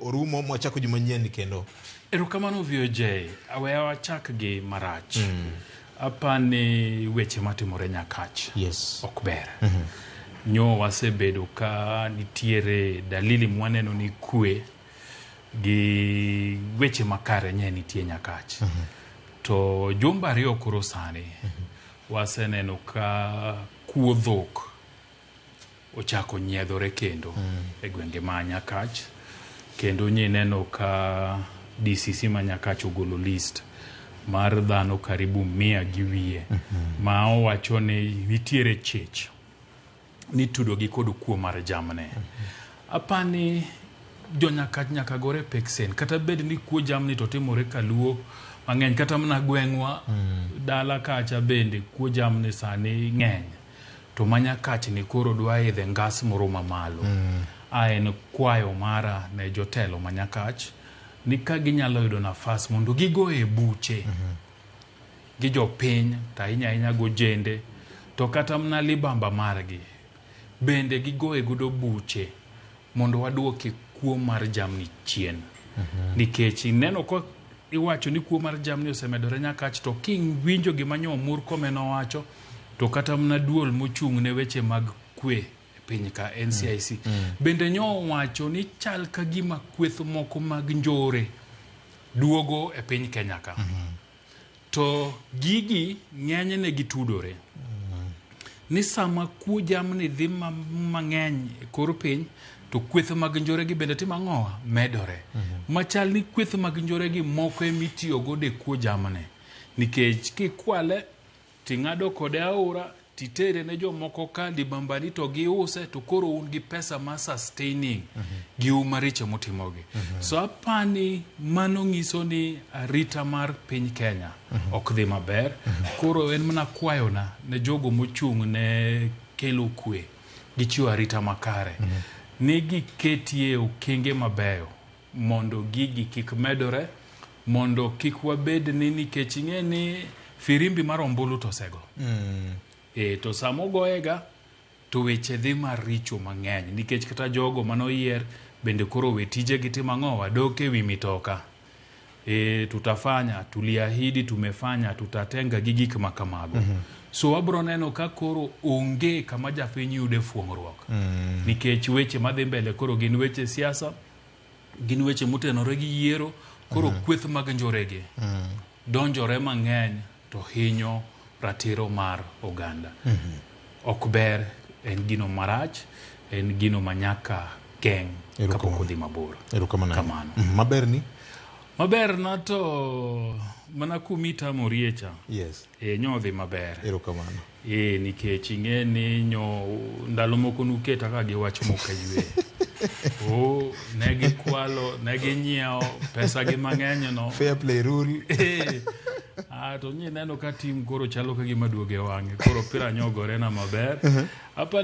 orumo mwachako juma nyien kendo erokamano voj aweya wachak gi marach mm. apa ni weche matimore nyakach yes. ok ber mm -hmm. nyo wasebedo ka nitiere dalili mwaneno ni kwe gi weche makare nye nitie nyakach mm -hmm. to jumba ariyo koro sani mm -hmm. waseneno ka kuo dhok ochako nyiedhore kendo e gwenge ma Nyakach kendo nyineno ka DCC ma Nyakach ogolo list mar dhano karibu mia gi wiye ma owacho ni nitiere chich nitudogi kod kuo mar jamne. Apani jonyakach nyaka gore peksen kata bed ni kuo jamni to timore kaluo mang'eny kata mana gweng'wa dala kacha bende kuo jamni sani ng'eny to ma nyakach ni koro dwa idhe ngas moro ma malo. A en kwayo mara ne jotelo ma nyakach ni ka ginyalo yudo nafas mondo gigoye buche gi jopiny to ahinya ahinya gi ojende to kata mana libamba margi bende gigoye godo buche mondo waduoki kuo mar jamni chien. Nikech ineno ka iwacho ni kuo mar jamni osemedore nyakach to kiwinjo gima nyo Murkomen owacho to kata mna duol mochung' ne weche mag kwe e piny ka NCIC bende nyowacho ni chal ka gima kweth moko mag njore duogo e piny Kenya ka to gigi ng'enyne gitudore ni sama kuo jamni dhi ma- mang'eny e kor piny to kweth mag njoregi bende timo ang'owa medore machal ni kweth mag njoregi moko emitiyogo de kuo jamni nikech kikwale Ting'ado kode aora, titere ne jomoko ka libambani to giuse to koro un gi pesa ma sustaining gi u maricho mutimogi. So apani mano ng'iso ni arita mar piny Kenya ok dhi maber. Koro en mana kwayona ne jogo mochung' ne kelo kwe gi chiwo arita makare ni giketie okenge mabeyo. mondo gigi kik medore mondo kik wabed ni nikech ing'e ni firimbi mar ombulu to osego mm. e, to sama ogoyega to weche dhi maricho mang'eny nikech kata jogo mane oyier bende koro we tijegi timo ang'o wadok e wi mitoka e, tutafanya tuliahidi tumefanya tutatenga gi gik ma kamago mm -hmm. so wabro neno ka koro onge kama japiny yude fuong'ruok mm. nikech weche madhi mbele koro gin weche siasa gin weche motenore gi yiero koro mm. kweth mag njorege mm. donjore mang'eny to hinyo ratiro mar oganda mm -hmm. ok ber en gino marach en gino manyaka geng' kapok odhi mabor kamano mm, maber ni maber na to mana kumi tamorie cha yes. e nyodhi maber Ee, nikech ing'e ni nyo ndalo moko nuketa ka gi wach mok aywe. Oh, ne gikwalo, ne ginyiewo pesa gi mang'eny no. Fair play rule. Ee, ah, to nye neno ka tim koro chalo ka gima duoge wang'e. Koro opira nyogore na maber. Apa ni